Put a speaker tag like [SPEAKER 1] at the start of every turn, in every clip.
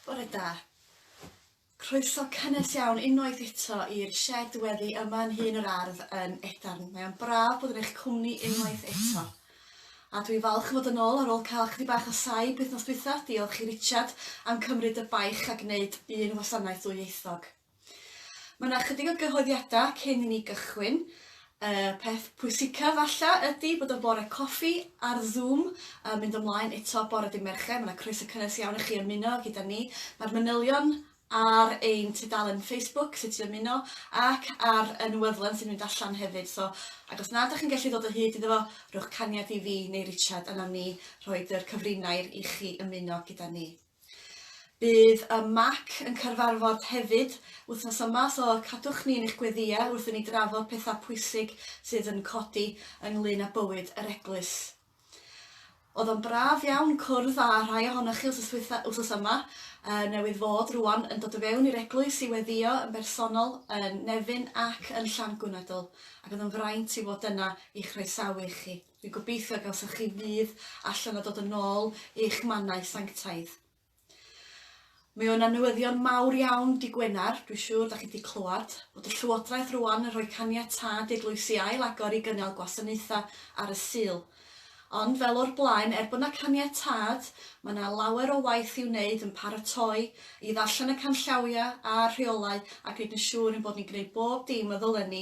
[SPEAKER 1] Bore da. Croeso cynnes iawn unwaith eto i'r shed weddi yma yn hun yr ardd yn Edarn. Mae o'n braf bod yn eich cwmni unwaith eto. A dwi falch fod yn ôl ar ôl cael chdi bach o saib wythnos dwytha. Diolch i Richard am cymryd y baich a gwneud un wasanaeth ddwyieithog. Mae yna chydig o gyhoeddiadau cyn i ni gychwyn. Y peth pwysica falla ydy bod y bore coffi ar Zoom yn mynd ymlaen eto bore dy Mercher. Mae yna croeso cynnes iawn i chi ymuno gyda ni. Mae'r manylion ar ein tudalen Facebook sut i ymuno ac ar y newydlen sy'n mynd allan hefyd. So, ac os na ydych chi'n gallu ddod o hyd iddo fo, rhowch caniad i fi neu Richard a nawn ni rhoi yr cyfrinair i chi ymuno gyda ni. Bydd y mac yn cyrfarfod hefyd wythnos yma so cadwch ni yn eich gweddiau wrth i ni drafod pethau pwysig sydd yn codi ynglŷn â bywyd yr eglwys. Oedd o'n braf iawn cwrdd â rhai ohonoch chi wsos ddwytha, wsos yma, y newydd fod rwan yn dod o fewn i'r eglwys i weddio yn bersonol yn Nefyn ac yn Llangunedl ac oedd yn fraint i fod yna i chroesawu chi. Dwi'n gobeithio y gawsoch chi fudd allan o dod yn ôl i'ch mannau sanctaidd. Mae o'n anwyddion mawr iawn di Gwener, dwi'n siŵr da chi di clywed, bod y Llywodraeth rwan yn rhoi caniatâd i'r lwys i ail agor i gynnal gwasanaethau ar y Sul. Ond fel o'r blaen, er bod na caniatâd, mae na lawer o waith i'w wneud yn paratoi, i ddarllen y canllawiau a'r rheolau a gwneud yn siŵr ein bod ni'n gwneud bob dim y ddylen ni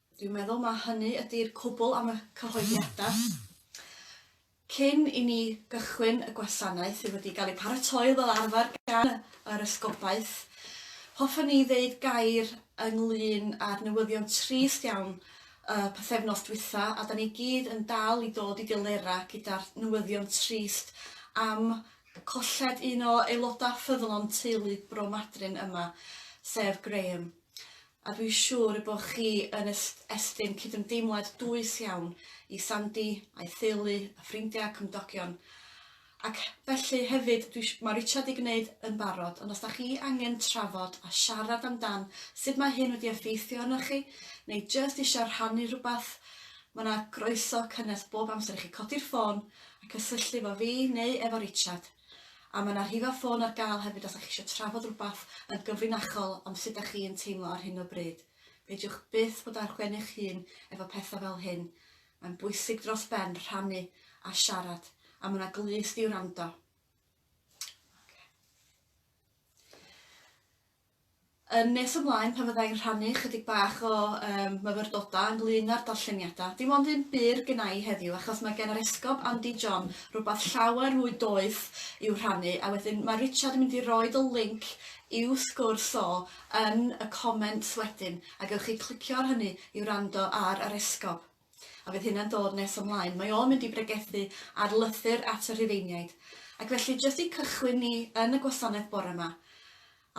[SPEAKER 1] Dwi'n meddwl mai hynny ydi'r cwbl am y cyhoeddiadau. Cyn i ni gychwyn y gwasanaeth sydd wedi cael ei pharatoi fel arfer gan yr Esgobaeth, hoffwn ni ddeud gair ynglŷn â'r newyddion trist iawn y pythefnos dwytha, a 'da ni gyd yn dal i dod i delerau gyda'r newyddion trist am colled un o aelodau ffyddlon teulu Bro Madryn yma, sef Graham. A dwi'n siŵr y bo chi yn estyn cydymdeimlad dwys iawn i Sandy, a'i theulu, a ffrindia, cymdogion, ac felly hefyd dwi ma Richard di gneud yn barod, ond os da chi angen trafod a siarad am dan sud mae hyn wedi effeithio arnoch chi, neu jyst isio rhannu rhywbeth, ma na groeso cynnes bob amser i chi codi'r ffôn a cysylltu efo fi neu efo Richard. A mae 'na rhifau ffôn ar gael hefyd os dach chi eisiau trafod rhywbeth yn gyfrinachol am sut dach chi yn teimlo ar hyn o bryd. Peidiwch byth bod ar ben eich hun efo pethau fel hyn. Mae'n bwysig dros ben rhannu a siarad, a mae 'na glust i wrando. Yn nes ymlaen pan fydda i'n rhannu chydig bach o yym myfyrdodau ynglŷn â'r darlleniadau, dim ond un bur gynna i heddiw achos mae gen yr Esgob Andy John rywbeth llawer mwy doeth i'w rhannu a wedyn mae Richard yn mynd i roid y linc i'w sgwrs o yn y comments wedyn a gewch chi clicio ar hynny i wrando ar yr Esgob. a fydd hynna'n dod nes ymlaen, mae o'n mynd i bregethu ar lythyr at y Rhufeiniaid. Ac felly, jyst i cychwyn ni yn y gwasanaeth bore 'ma,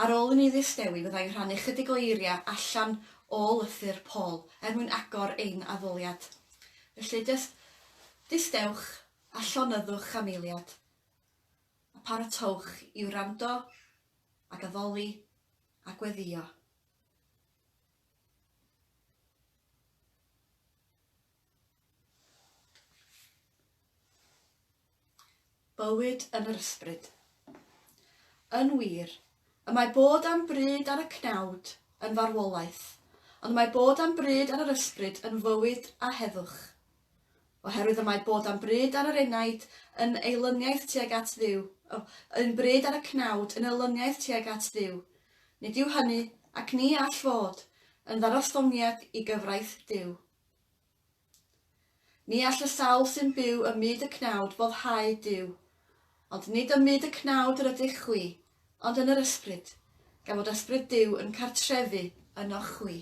[SPEAKER 1] ar ôl i ni ddistewi, fydda i'n rhannu chydig o eiriau allan o lythyr Paul, er mwyn agor ein addoliad. Felly, jyst distewch a llonyddwch am eiliad, a paratoewch i wrando ac addoli a gweddïo. Bywyd yn yr ysbryd. Yn wir, y mae bod am bryd ar y cnawd yn farwolaeth, ond mae bod am bryd ar yr ysbryd yn fywyd a heddwch. Oherwydd y mae bod am bryd ar yr enaid yn eilyniaeth tuag at Dduw, oh, yn bryd ar y cnawd yn eilyniaeth tuag at Dduw, nid yw hynny, ac ni all fod, yn ddarostyngniad i gyfraith Duw. Ni all y sawl sy'n byw ym myd y cnawd foddhau Duw. Ond nid ym myd y cnawd yr ydych chwi, ond yn yr ysbryd, gan fod ysbryd Duw yn cartrefu ynoch chwi.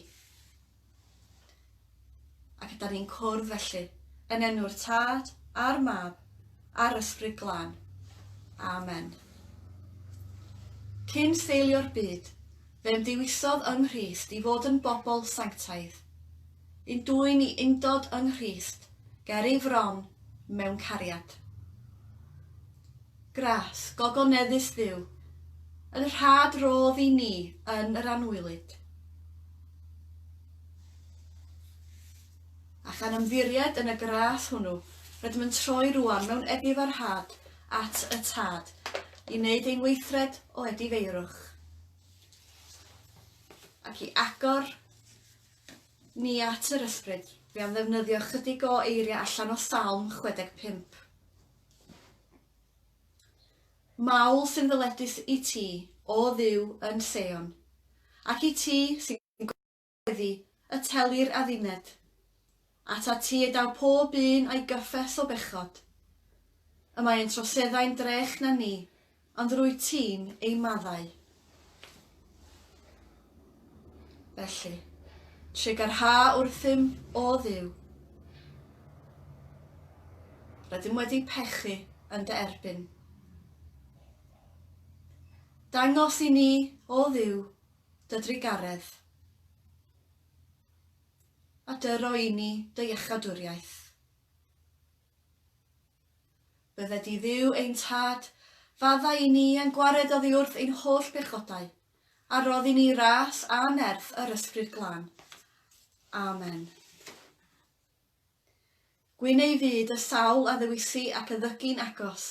[SPEAKER 1] Ac ydan ni'n cwrdd felly, yn enw'r Tad, a'r Mab, a'r Ysbryd Glân. Amen. Cyn seilio'r byd, fe ymddewisodd yng Nghrist i fod yn bobl sanctaidd. Yn dwyn i undod yng Nghrist, ger ei fron, mewn cariad. Gras, gogoneddus Dduw, yn rhad rodd i ni yn yr anwylyd. A chan ymddiried yn y gras hwnnw, rydym yn troi rwan mewn edifarhad at y Tad, i wneud ein weithred o edifeirwch, ac i agor Ni at yr ysbryd. Fi am ddefnyddio chydig o eiriau allan o Salm 65. Mawl sy'n ddyledus i ti, o dduw, yn Seion, ac i ti sy'n gweddi y telir adduned. At a ti y daw pob un a'i gyffes o bechod. Y mae ein troseddau'n drech na ni, ond rwyt ti'n ei maddau. Felly, trugarha wrthym, O Dduw. Rydym wedi pechu yn dy erbyn. Dangos i ni, O Dduw, dy drugaredd. a dy roi ni dy iachadwriaeth. Bydde di Dduw ein Tad, fadda i ni a'n gwared oddi wrth ein holl bechodau, a roddi ni ras a nerth yr Ysbryd Glân. Amen. Gwyn ei fyd y sawl a ddewisi ac y ddygu'n agos,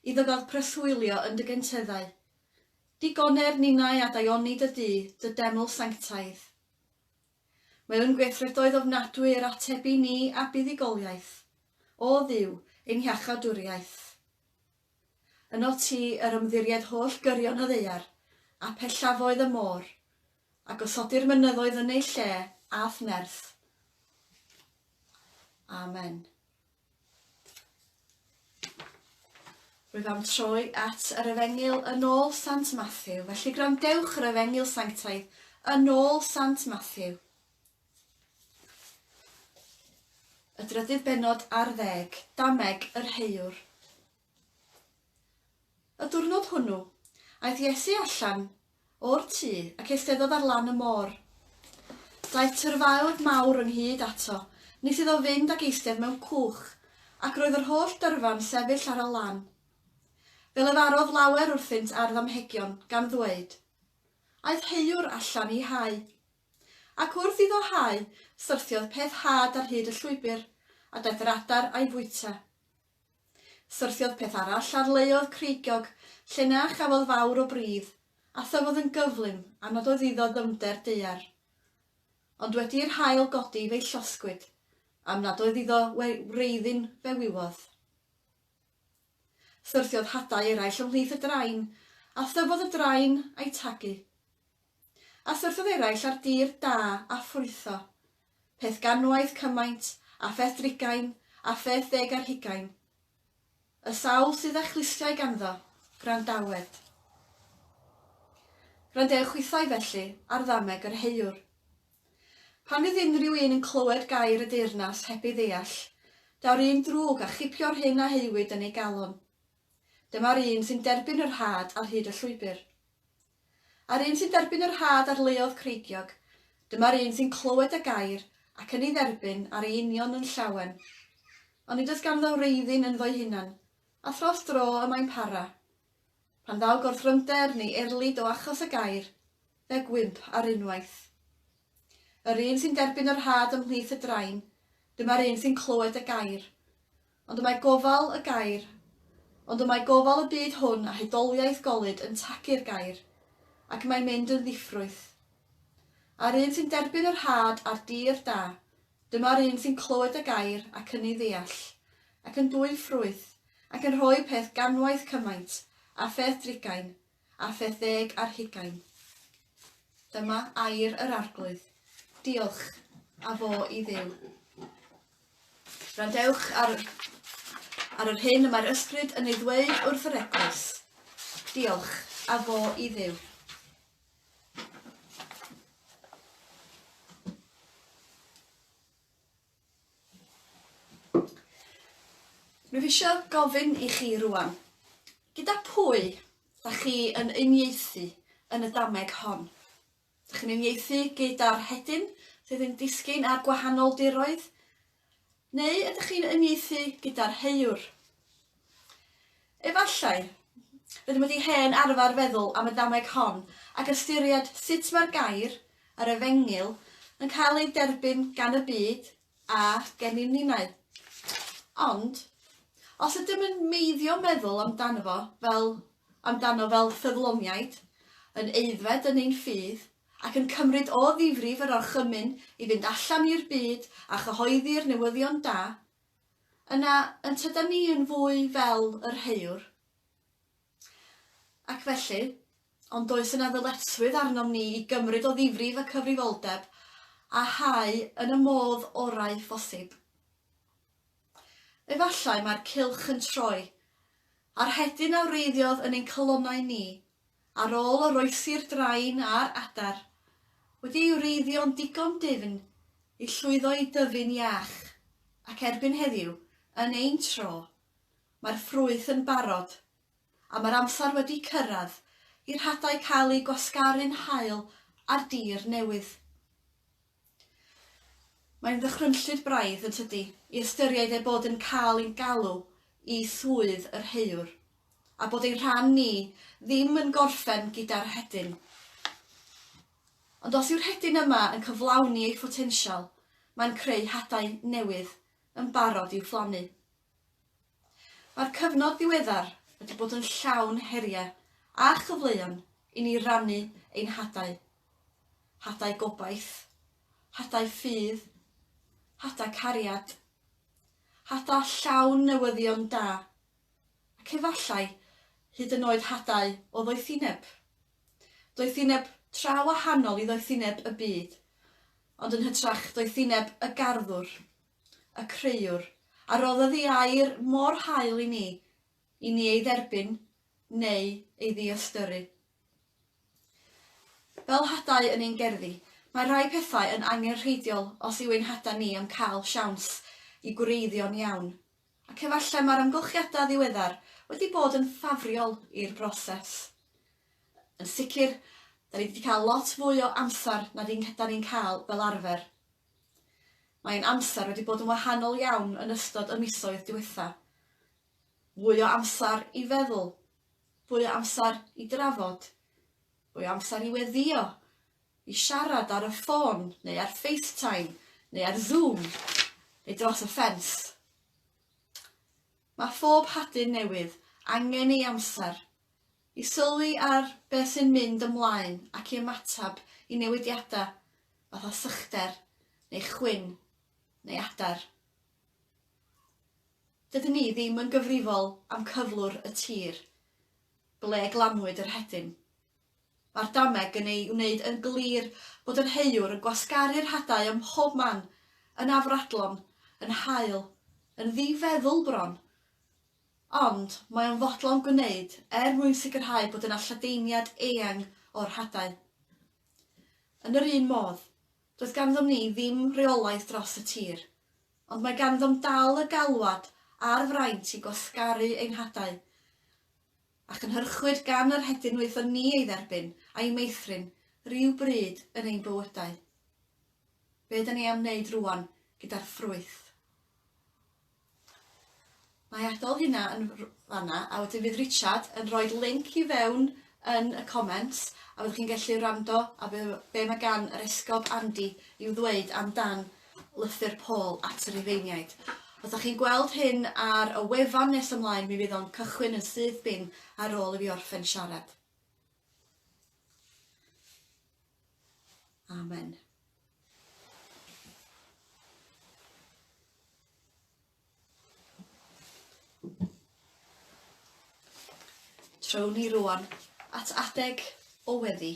[SPEAKER 1] iddo gael preswylio yn dy genteddau. Digoner ninnau a daioni dy du, dy deml sanctaidd. Mewn gweithredoedd ofnadwy yr atebu ni â buddugoliaeth, O Dduw, ein hiachawdwriaeth. Ynof ti yr ymddiried holl gyrion y ddaear, a phellafoedd y môr, a gosodir mynyddoedd yn eu lle, a'th nerth. Amen. Rwyf am troi at yr Efengyl yn ôl Sant Mathew, felly gwrandewch yr Efengyl Sanctaidd yn ôl Sant Mathew. Y drydydd benod ar ddeg, dameg yr heuwr. Y diwrnod hwnnw, aeth Iesu allan o'r tŷ ac eisteddodd ar lan y môr. Daeth tyrfaoedd mawr ynghyd ato, nes iddo fynd ac eistedd mewn cwch, ac roedd yr holl dyrfa'n sefyll ar y lan. Fe lefarodd lawer wrthynt ar ddamhegion, gan ddweud, Aeth heuwr allan i hau. Ac wrth iddo hau, syrthiodd peth had ar hyd y llwybr, a daeth yr adar a'i fwyta. Syrthiodd peth arall ar layodd creigiog lle na chafodd fawr o bridd, a thyfodd yn gyflym a nododd iddo ddyfnder daear. Ond wedi i'r haul godi fe'i llosgwyd, am nad oedd iddo we wreiddyn fe wywodd. Syrthiodd hadau eraill ymhlith y drain, a thyfodd y drain a'i tagu. A syrthiodd eraill ar dir da a ffrwytho, peth ganwaith cymaint a pheth drugain a pheth ddeg ar hugain, y sawl sydd â chlustiau ganddo, gwrandawed. Gwrandewch hwythau, felly, ar ddameg yr heuwr. Pan fydd unrhyw un yn clywed gair y deyrnas heb ei ddeall, daw'r un drwg a chipio'r hyn a heuwyd yn ei galon. Dyma'r un sy'n derbyn yr rhad ar hyd y llwybr. A'r un sy'n derbyn y rhad ar luoedd creigiog, dyma'r un sy'n clywed y gair, ac yn ei dderbyn ar ei union yn llawen. Ond nid oes ganddo wreiddyn ynddo'i hunan, a thros dro y mae'n para. Pan ddaw gorthrymder neu erlid o achos y gair, fe gwymp ar unwaith. Yr un sy'n derbyn y rhad ymhlith y drain, dyma'r un sy'n clywed y gair. Ond y mae gofal y gair, ond y mae gofal y byd hwn a hudoliaeth golud yn tacu'r gair, ac mae'n mynd yn ddiffrwyth. A'r un sy'n derbyn yr had a'r dir da, dyma'r un sy'n clywed y gair ac ynni ddeall, ac yn dwyn ffrwyth, ac yn rhoi peth ganwaith cymaint, a pheth drugain, ar fedd ddeg ar hugain. Dyma air yr Arglwydd. Diolch, a fo i dduw. Randewch ar, ar yr hyn y mae'r ysbryd yn ei ddweud wrth yr eglwys. Diolch, a fo i dduw. Rwyf eisiau gofyn i chi rŵan, gyda phwy da chi yn uniaethu yn y dameg hon? Da chi'n uniaethu gyda'r hedyn sydd yn disgyn ar gwahanol diroedd? Neu ydych chi'n uniaethu gyda'r heuwr? Efallai, rydym wedi hen arfer feddwl am y dameg hon ac ystyried sut mae'r gair, yr efengyl, yn cael ei derbyn gan y byd a gennym ninnau. Ond, os ydym yn meiddio meddwl amdano fo fel amdano fel ffyddloniaid, yn aeddfed yn ein ffydd, ac yn cymryd o ddifrif yr orchymyn i fynd allan i'r byd a chyhoeddi'r newyddion da, yna yn tydan ni yn fwy fel yr haeawr. Ac felly, ond does yna ddyletswydd arnom ni i gymryd o ddifrif y cyfrifoldeb a hau yn y modd orau phosib. Efallai mae'r cylch yn troi, a'r hedyn a wreiddiodd yn ein calonnau ni, Ar ôl oroesi'r drain a'r adar wedi'i wreiddio'n ddigon difn i llwyddo i dyfu'n iach, ac erbyn heddiw, yn ein tro, mae'r ffrwyth yn barod, a mae'r amser wedi cyrraedd i'r hadau cael eu gwasgaru'n hael ar dir newydd. Mae'n ddychrynllyd braidd, yn tydi, i ystyried ei bod yn cael ein galw i swydd yr heuwr, a bod ein rhan ni ddim yn gorffen gyda'r rhedyn. Ond os yw'r rhedyn yma yn cyflawni ei photensial, mae'n creu hadau newydd yn barod i'w phlannu. Mae'r cyfnod ddiweddar wedi bod yn llawn heriau a chyfleon i ni rannu ein hadau. hadau gobaith, hadau ffydd, hadau cariad, hadau llawn newyddion da, ac efallai hyd yn oed hadau o ddoethineb. Doethineb tra wahanol i ddoethineb y byd, ond yn hytrach doethineb y garddwr, y creuwr, a roddodd ei air mor hael i ni, i ni ei dderbyn neu ei ddiystyru. Fel hadau yn ein gerddi, mae rhai pethau yn angenrheidiol os yw ein hadau ni am cael siawns i gwreiddio'n iawn, ac efallai mae'r amgylchiadau ddiweddar wedi bod yn ffafriol i'r broses. Yn sicr, da ni wedi cael lot fwy o amser na da ni'n cael fel arfer. Mae ein amser wedi bod yn wahanol iawn yn ystod y misoedd diwetha'. Fwy o amser i feddwl, Fwy o amser i drafod. Fwy o amser i weddïo, i siarad ar y ffôn neu ar FaceTime neu ar Zoom neu dros y ffens. Mae phob hadyn newydd angen ei amser i sylwi ar beth sy'n mynd ymlaen ac i ymateb i newidiadau fatha sychder neu chwyn neu adar. Dydyn ni ddim yn gyfrifol am cyflwr y tir ble glanwyd yr hedyn. Mae'r dameg yn ei wneud yn glir bod yr heuwr yn gwasgaru'r hadau ym mhob man, yn afradlon, yn haul, yn ddifeddwl bron. Ond mae o'n fodlon gwneud er mwyn sicrhau bod yna lledaeniad eang o'r hadau. Yn yr un modd, Doedd ganddom ni ddim rheolaeth dros y tir, ond mae ganddom dal y galwad a'r fraint i gwasgaru ein hadau, a chynhyrchwyd gan yr hedyn wnaethon ni ei dderbyn a'i meithrin ryw bryd yn ein bywydau. Be' ydan ni am wneud rŵan gyda'r ffrwyth? Mae adal hynna yn fanna a wedyn fydd Richard yn rhoid linc i fewn yn y comments a fyddwch chi'n gallu wrando a be, be mae gan yr esgob Andy i'w ddweud amdan lythyr Paul at y Rhufeiniaid. Os da chi'n gweld hyn ar y wefan nes ymlaen mi fydd o'n cychwyn yn syth bin ar ôl i fi orffen siarad. Amen. Trown ni rwan at adeg o weddi.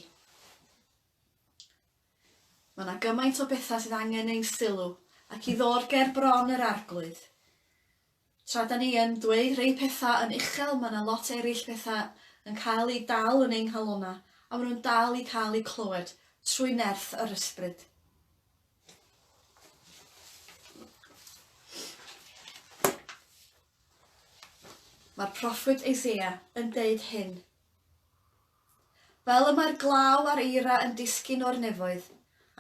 [SPEAKER 1] Mae yna gymaint o bethau sydd angen ein sylw ac i ddod ger bron yr arglwydd. Tra da ni yn dweud rei petha yn uchel ma na lot erill petha yn cael i dal yn ein nghalona a ma nhw'n dal i cael i clywed trwy nerth yr ysbryd. Mae'r proffwyd Eseia yn deud hyn. Fel y mae'r glaw a'r eira yn disgyn o'r nefoedd,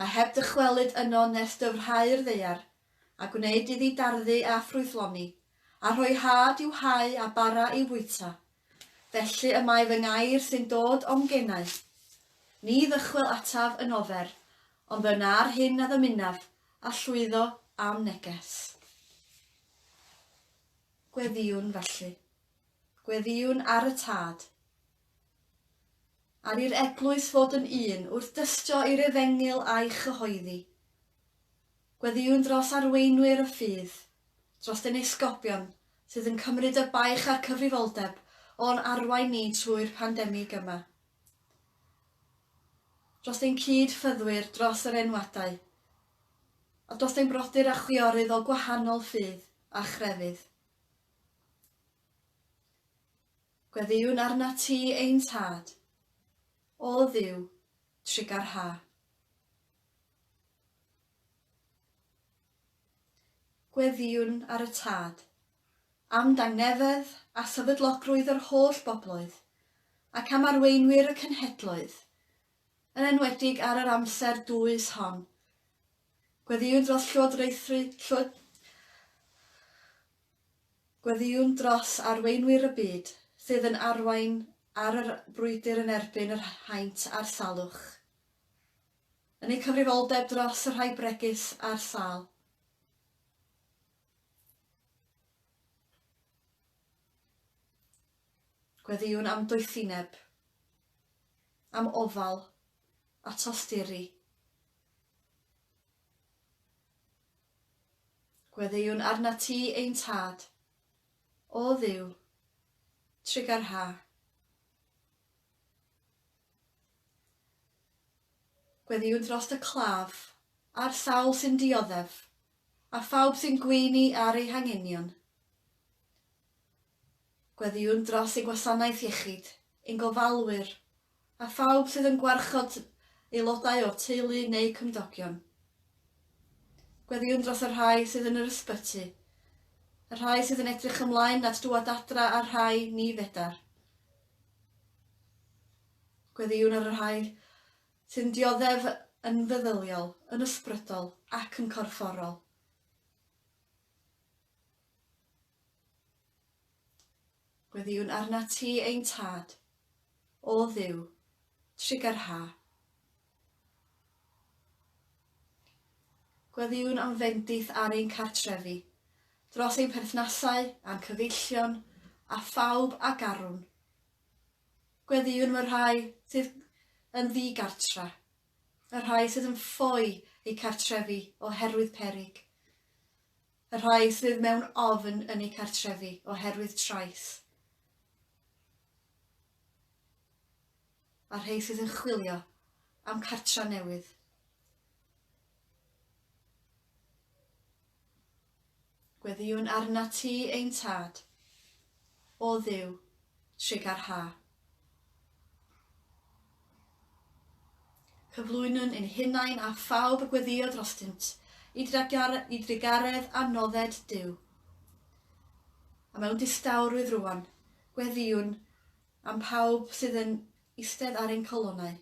[SPEAKER 1] a heb dychwelyd yno nes dyfrhau'r ddeiar, a gwneud iddi darddu a ffrwythloni, a rhoi hâd i'w hau a bara i'w fwyta. Felly y mae fy ngair sy'n dod o'm genau. Ni ddychwel ataf yn ofer, ond fe wna'r hyn a ddymunaf, a llwyddo a'm neges. Gweddïwn felly. Gweddïwn ar y Tad. Ar i'r eglwys fod yn un wrth dystio i'r efengyl a'i chyhoeddi. Gweddïwn dros arweinwyr y ffydd, dros ein esgobion sydd yn cymryd y baich a'r cyfrifoldeb o'n arwain ni trwy'r pandemig yma. Dros ein cyd-fyddwyr, dros yr enwadau, a dros ein brodyr a chwiorydd o gwahanol ffydd a chrefydd. Gweddïwn arnat ti, ein Tad, O Dduw, trugar ha. Gweddïwn ar y Tad, am dangnefedd a sefydlogrwydd yr holl bobloedd, ac am arweinwyr y cenhedloedd, yn enwedig ar yr amser dwys hon. Gweddïwn dros llywodraethu, llywod, Gweddïwn dros arweinwyr y byd sydd yn arwain ar y brwydr yn erbyn yr haint a'r salwch, yn eu cyfrifoldeb dros y rhai bregus a'r sâl. Gweddïwn am doethineb, am ofal a tosturi. Gweddïwn arnat ti, ein Tad. O Dduw, trugar ha. Gweddïwn drost y claf, a'r sawl sy'n dioddef, a phawb sy'n gweini ar ei hangenion. Gweddïwn dros ein gwasanaeth iechyd, ein gofalwyr, a phawb sydd yn gwarchod aelodau o'r teulu neu cymdogion. Gweddïwn dros y rhai sydd yn yr ysbyty, y rhai sydd yn edrych ymlaen at dŵad adra a'r rhai ni fedar. Gweddïwn ar y rhai sy'n dioddef yn feddyliol, yn ysbrydol ac yn corfforol. Gweddïwn arnat ti, ein Tad, o Dduw, trigger ha. Gweddïwn am fendith ar ein cartrefi, dros ein perthnasau a'n cyfeillion a phawb a garwn. Gweddïwn y rhai sydd yn ddigartra, y rhai sydd yn ffoi eu cartrefi oherwydd perig. Y rhai sydd mewn ofn yn eu cartrefi oherwydd trais. A'r rhai sydd yn chwilio am cartra newydd. Gweddïwn arna ti ein tad, o dduw, trig ar ha. Cyflwynwn ein hunain a phawb y gweddïo drostynt, i drugaredd a nodded Duw. A mewn distawrwydd rŵan, gweddïwn am phawb sydd yn eistedd ar ein colonnau.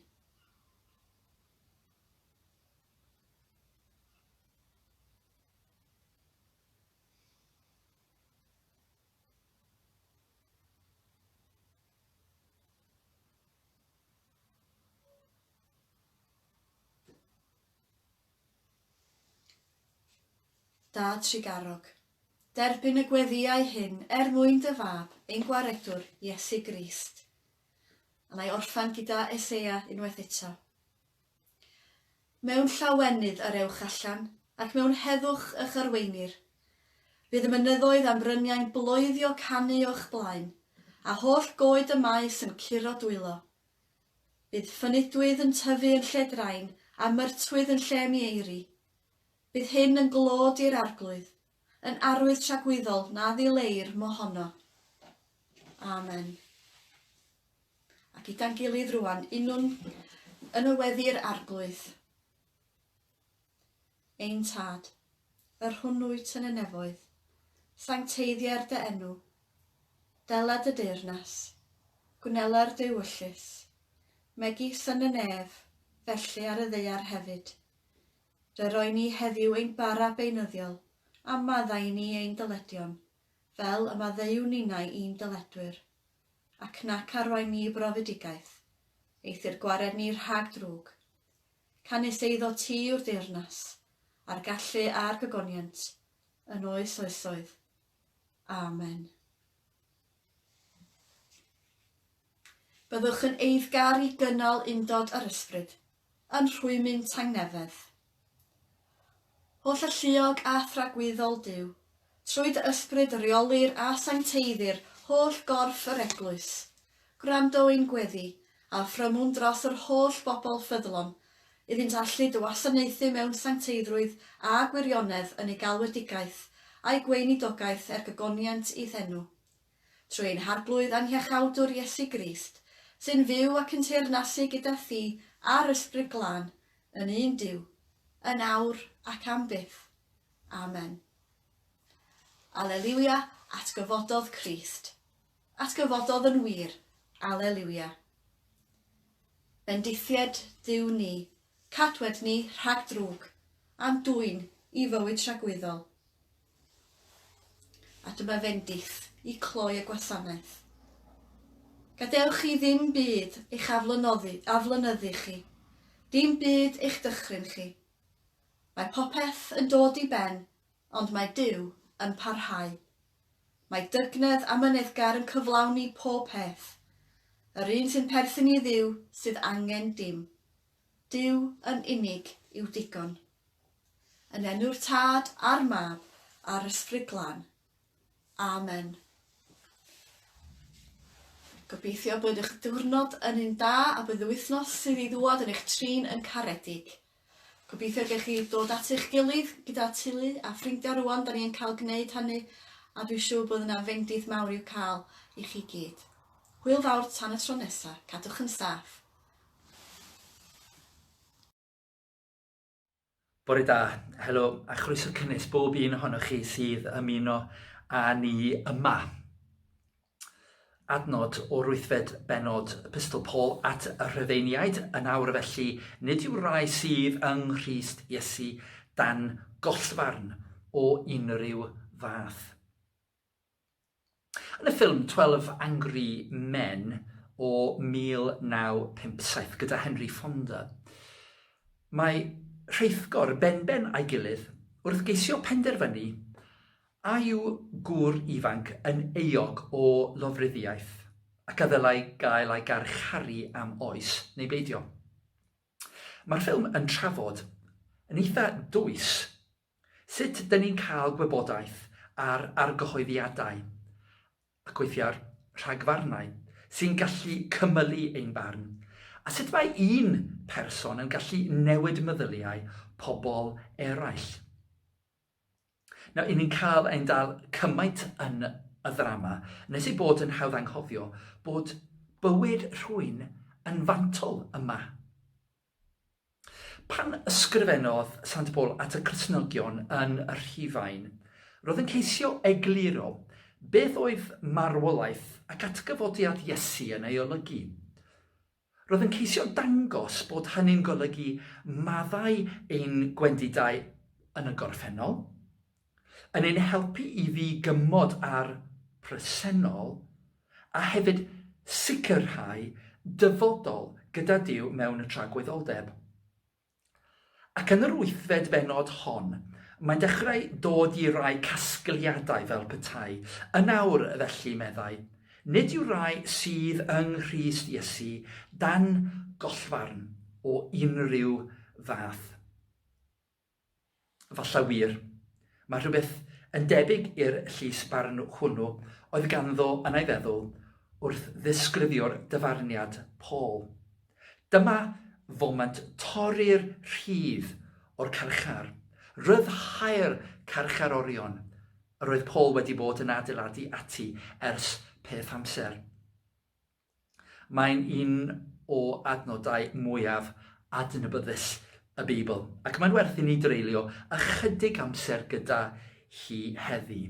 [SPEAKER 1] Da Tregarog. Derbyn y gweddiau hyn er mwyn dy fab, ein Gwaredwr, Iesu Grist. A na i orffan gyda Eseia unwaith eto. Mewn llawenydd yr ewch allan, ac mewn heddwch y'ch arweinir. Bydd y mynyddoedd a'n bryniau'n bloeddio canu o'ch blaen, a holl goed y maes yn curo dwylo. Bydd ffynidwydd yn tyfu yn lle drain, a myrtwydd yn lle mieiri. Bydd hyn yn glod i'r arglwydd. yn arwydd tragwyddol na ddileir mohono. Amen. A gyda'n gilydd rwan, unwn yn y weddi'r arglwydd. Ein Tad, yr hwn wyt yn y nefoedd, sancteiddiau'r dy enw, dela dy deyrnas, gwnela'r dy wyllys, megis yn y nef, felly ar y ddeiar hefyd. Fe roen ni heddiw ein bara beunyddiol, a maddau i ni ein dyledion, fel y maddeuwn ninnau i'n dyledwyr. Ac nac arwain ni i brofedigaeth, eithr gwared ni rhag drwg. Canys eiddo ti yw'r deyrnas, a'r gallu a'r gogoniant, yn oes oesoedd. Amen. Byddwch yn eiddgar i gynnal undod â'r ysbryd, yn rhwymyn tangnefedd. Holl alluog a thragwyddol Duw, trwy dy ysbryd reolir a sancteiddir holl gorff yr Eglwys, Gwrando ein gweddi, a phrymwn dros yr holl bobl ffyddlon, iddynt allu dy wasanaethu mewn sancteiddrwydd a gwirionedd yn eu galwedigaeth a'u gweinidogaeth er gogoniant i'th enw. Trwy ein Harglwydd a'n Hiachawdwr Iesu Grist, sy'n fyw ac yn teyrnasu gyda thi a'r Ysbryd Glân, yn un Duw, yn awr ac am byth. Amen. Aleliwia, atgyfododd Crist. Atgyfododd yn wir, Aleliwia. Bendithied Duw ni, cadwed ni rhag drwg, a'n dwyn i fywyd tragwyddol. A dyma fendith i cloi y gwasanaeth. Gadewch chi ddim byd eich aflynoddi, aflynyddu chi, dim byd eich dychryn chi. Mae popeth yn dod i ben, ond mae Duw yn parhau. Mae dygnedd amyneddgar yn cyflawni pob peth. Yr un sy'n perthyn i Dduw sydd angen dim. Duw yn unig yw digon. Yn enw'r Tad, a'r Mab, a'r Ysbryd Glân. Amen. Gobeithio bod eich diwrnod yn un da a bydd y wythnos sydd i ddŵad yn eich trin yn caredig. Gobeithio gewch chi dod at eich gilydd gyda teulu a ffrindiau rŵan 'da ni yn cael gwneud hynny a dwi'n siŵr bod yna fendith mawr i'w cael i chi gyd. Hwyl fawr tan y tro nesa, cadwch yn saff!
[SPEAKER 2] Bore da, helo a chroeso cynnes bob un ohonoch chi sydd ymuno â ni yma. Adnod o'r wythfed bennod Epistol Paul at y Rhufeiniaid yn awr felly, nid yw'r rai sydd yng Nghrist Iesu dan gollfarn o unrhyw fath. Yn y ffilm Twelve Angry Men o 1957 gyda Henry Fonda, mae rheithgor benben a'i gilydd wrth geisio penderfynu A yw gŵr ifanc yn euog o lofruddiaeth, ac a ddylai gael ei garcharu am oes, neu beidio? Mae'r ffilm yn trafod, yn eitha dwys, sut dŷn ni'n cael gwybodaeth ar argyhoeddiadau, ac weithiau rhagfarnau, sy'n gallu cymylu ein barn, a sut mae un person yn gallu newid meddyliau pobl eraill. Nawr, 'yn ni'n cael ein dal cymaint yn y ddrama, nes ei bod yn hawdd anghofio bod bywyd rhywun yn fantol yma. Pan ysgrifennodd Sant Paul at y Cristnogion yn y Rhufain, roedd yn ceisio egluro beth oedd marwolaeth ac atgyfodiad Iesu yn ei olygu. Roedd yn ceisio dangos bod hynny'n golygu maddau ein gwendidau yn y gorffennol, yn ein helpu i ddi-gymod â'r presennol, a hefyd sicrhau dyfodol gyda Duw mewn y tragwyddoldeb. Ac yn yr wythfed bennod hon, mae'n dechrau dod i rai casgliadau fel petai, yn awr, felly, meddai, nid yw rai sydd yng Nghrist Iesu dan gollfarn o unrhyw fath. Falle wir. Mae rhywbeth yn debyg i'r llys barn hwnnw oedd ganddo yn ei feddwl wrth ddisgrifio'r dyfarniad Paul. Dyma foment torri'r rhif o'r carchar. Rhyddhau'r carchar orion. Yr oedd Paul wedi bod yn adeiladu ati ers peth amser. Mae'n un o adnodau mwyaf adnabyddus y Beibl, ac mae'n werth i ni dreulio ychydig amser gyda hi heddi.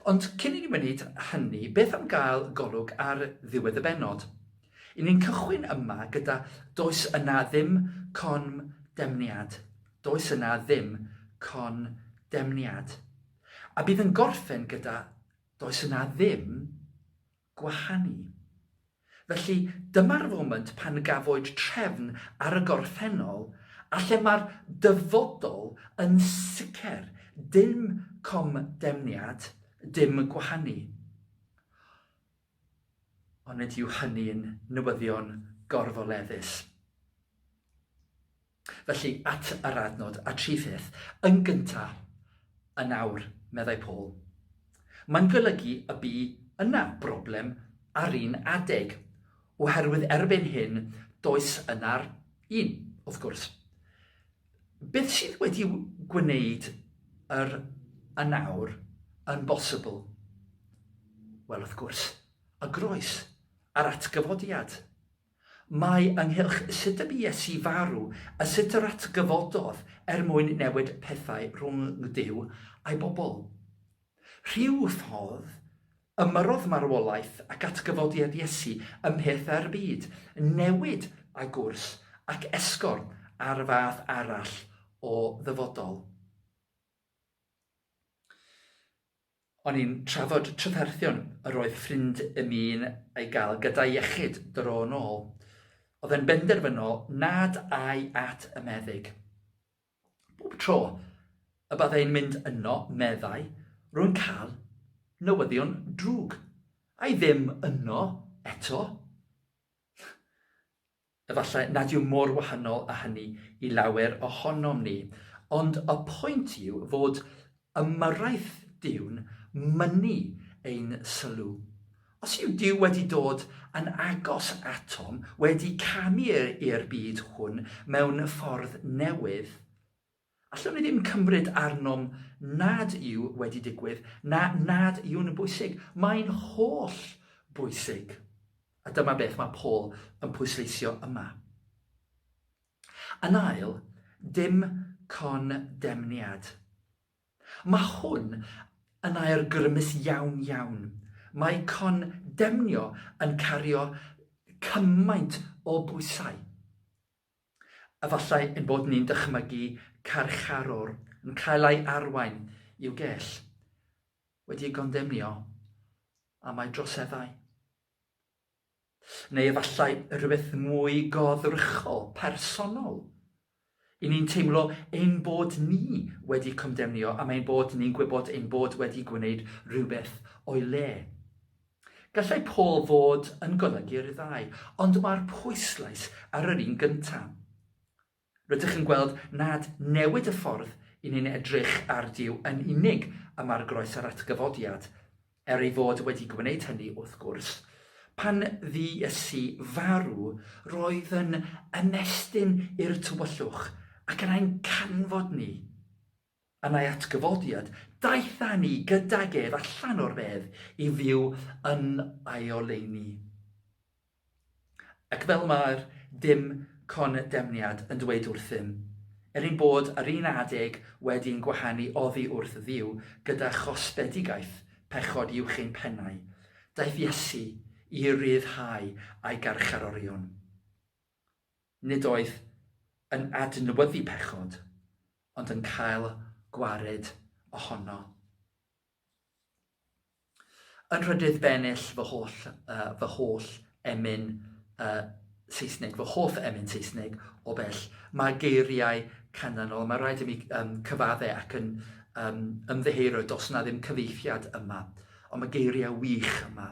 [SPEAKER 2] Ond cyn i ni wneud hynny, beth am gael golwg ar ddiwedd y benod? I ni'n cychwyn yma gyda Does yna ddim con demniad. Does yna ddim con demniad. A bydd yn gorffen gyda Does yna ddim gwahanu. Felly, dyma'r foment pan gafwyd trefn ar y gorffennol a lle mae'r dyfodol yn sicr, dim comdemniad, dim gwahanu. Onid yw hynny'n newyddion gorfoleddus? Felly, at yr adnod a tri pheth, yn gynta', yn awr, meddai Paul. Mae'n golygu y bu yna broblem ar un adeg, oherwydd erbyn hyn does yna'r un, wrth gwrs. Beth sydd wedi gwneud yr yn awr yn bosibl? Wel, wrth gwrs, y groes, yr atgyfodiad. Mae ynghylch sut y bu Iesu farw a sut yr atgyfododd er mwyn newid pethau rhwng Duw a'i bobl. Rhyw ffordd, ymyrrodd marwolaeth ac atgyfodiad Iesu ymhyrth â'r byd, newid a gwrs ac esgor ar fath arall o ddyfodol. O'n i'n trafod tryddarthion yr oedd ffrind i mi'n ei gael gyda'i iechyd dro yn ôl. Oedd e'n benderfynol nad ai at y meddyg. Bob tro y byddai'n mynd yno, meddai, rwy'n cael newyddion drwg. Ai ddim yno eto? Efallai nad yw mor wahanol â hynny i lawer ohonom ni, ond y pwynt yw fod ymyrraeth Duw'n mynnu ein sylw. Os yw Duw wedi dod yn agos atom, wedi camu i'r byd hwn mewn ffordd newydd, Allwn ni ddim cymryd arnom nad yw wedi digwydd na nad yw'n bwysig. Mae'n holl bwysig. A dyma beth mae Paul yn pwysleisio yma. Yn ail, dim condemniad. Mae hwn yn air grymus iawn, iawn. Mae condemnio yn cario cymaint o bwysau. Efallai ein bod ni'n dychmygu carcharwr yn cael ei arwain i'w gell, wedi ei gondemnio am ei droseddau. Neu efallai rhywbeth mwy goddrychol, personol. I ni'n teimlo ein bod ni wedi condemnio am ein bod ni'n gwybod ein bod wedi gwneud rhywbeth o'i le. Gallai Paul fod yn golygu'r ddau, ond mae'r pwyslais ar yr un gyntaf. Rydych yn gweld nad newid y ffordd i ni'n edrych ar Duw yn unig y mae'r groes a'r atgyfodiad, er ei fod wedi gwneud hynny, wrth gwrs. Pan fu Iesu farw, roedd yn ymestyn i'r tywyllwch ac yna'n canfod ni. Yn ei atgyfodiad, daeth â ni gydag ef allan o'r bedd i fyw yn ei oleuni. Ac fel mae'r dim condemniad yn dweud wrthym, er ein bod ar un adeg wedi ein gwahanu oddi wrth Dduw gyda chosbedigaeth pechod uwch ein pennau, daeth Iesu i ryddhau a'i garcharorion. nid oedd yn adnewyddu pechod, ond yn cael gwared ohono. Yn rhydydd bennill fy holl, uh, fy holl emyn uh, Saesneg, fy hoff emyn Saesneg o bell, mae geiriau canlynol, mae rhaid i mi um, cyfadde ac yn um, ymddeheiro dos na ddim cyfeithiad yma, ond mae geiriau wych yma.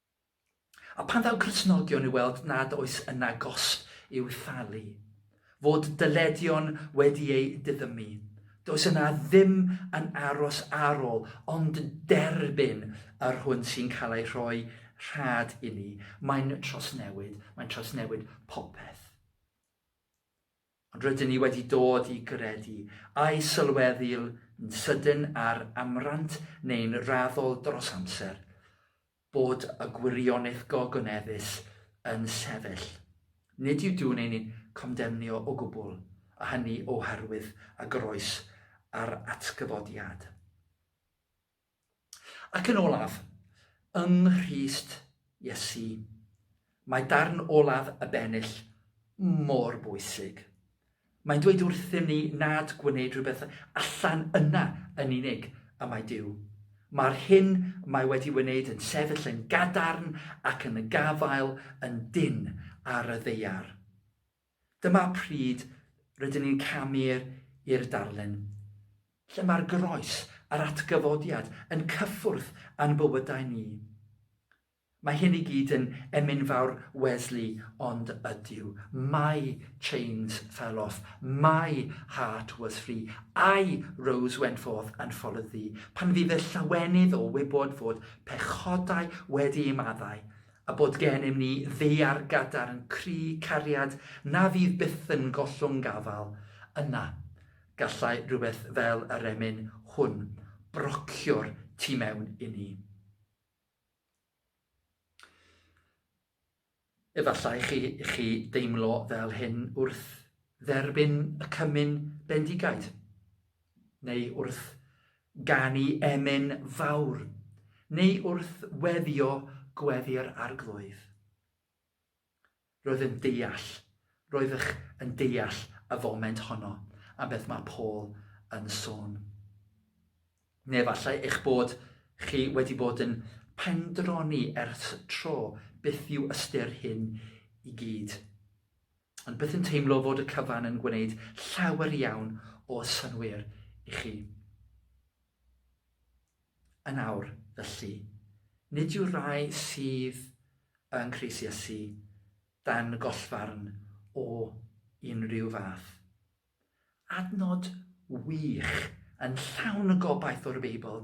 [SPEAKER 2] A phan ddaw Cristnogion i weld nad oes yna gosb i'w thalu, fod dyledion wedi eu diddymu, does yna ddim yn aros ar ôl ond derbyn yr hwn sy'n cael ei rhoi rhad inni. Mae'n trawsnewid, mae'n trawsnewid popeth. Ond rydyn ni wedi dod i gredu, a'i sylweddu'n sydyn ar amrant neu'n raddol dros amser, bod y gwirionedd gogoneddus yn sefyll. Nid yw Duw'n ein condemnio o gwbl, a hynny oherwydd y groes a'r atgyfodiad. Ac yn olaf, yng Nghrist Iesu, mae darn olaf y bennill mor bwysig. Mae'n dweud wrthym ni nad gwneud rhywbeth allan yna yn unig y mae Duw. Mae'r hyn mae wedi wneud yn sefyll yn gadarn ac yn gafael yn dynn ar y ddeiar. Dyma pryd rydyn ni'n camu i'r darlun, lle mae'r Groes a'r Atgyfodiad yn cyffwrdd â'n bywydau ni. Mae hyn i gyd yn emyn fawr Wesley, ond ydyw, My chains fell off, my heart was free, I rose went forth and followed thee, pan fydd y llawenydd o wybod fod pechodau wedi ei maddau, a bod gennym ni ddaear gadarn cry cariad na fydd byth yn gollwng gafael, yna gallai rhywbeth fel y remyn hwn brocio'r tu mewn i ni. Efallai chi, chi deimlo fel hyn wrth dderbyn y cymun bendigaid. neu wrth ganu emyn fawr, neu wrth weddio gweddi'r Arglwydd. Roedd yn deall, roeddech yn deall y foment honno am beth mae Paul yn sôn. Neu efallai eich bod chi wedi bod yn pendroni ers tro beth yw ystyr hyn i gyd. ond byth yn teimlo fod y cyfan yn gwneud llawer iawn o synwyr i chi. Yn awr, felly, nid yw'r rai sydd yn Cris Iesu dan gollfarn o unrhyw fath. Adnod wych yn llawn y gobaith o'r Beibl.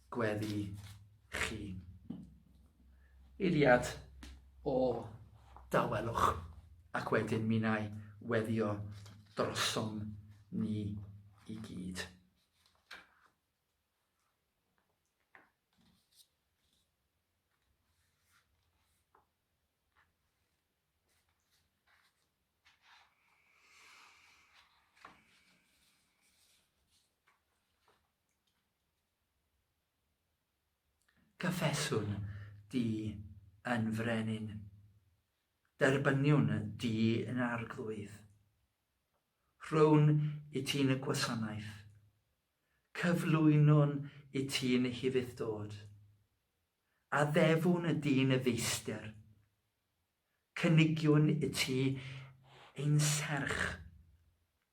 [SPEAKER 2] gweddi chi. Eiliad o dawelwch ac wedyn mi wna i weddio drosom ni i gyd. Cyffeswn di yn frenin, derbyniwn di yn arglwydd. Rhown i ti'n y gwasanaeth, cyflwynwn i ti'n y hufudd-dod. Addefwn di'n y feistr, cynigiwn i ti ein serch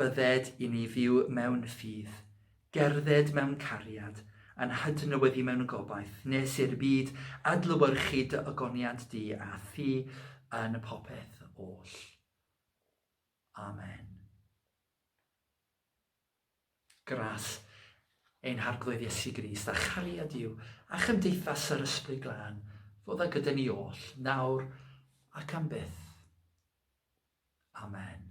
[SPEAKER 2] Bydded i ni fyw mewn ffydd, gerdded mewn cariad, a'n hadnewyddu mewn gobaith, nes i'r byd adlewyrchu dy ogoniant di a thi yn popeth oll. Amen. Gras ein harglwydd Iesu Grist a chariad yw a chymdeithas yr ysbryd glân fod a gyda ni oll, nawr ac am byth. Amen.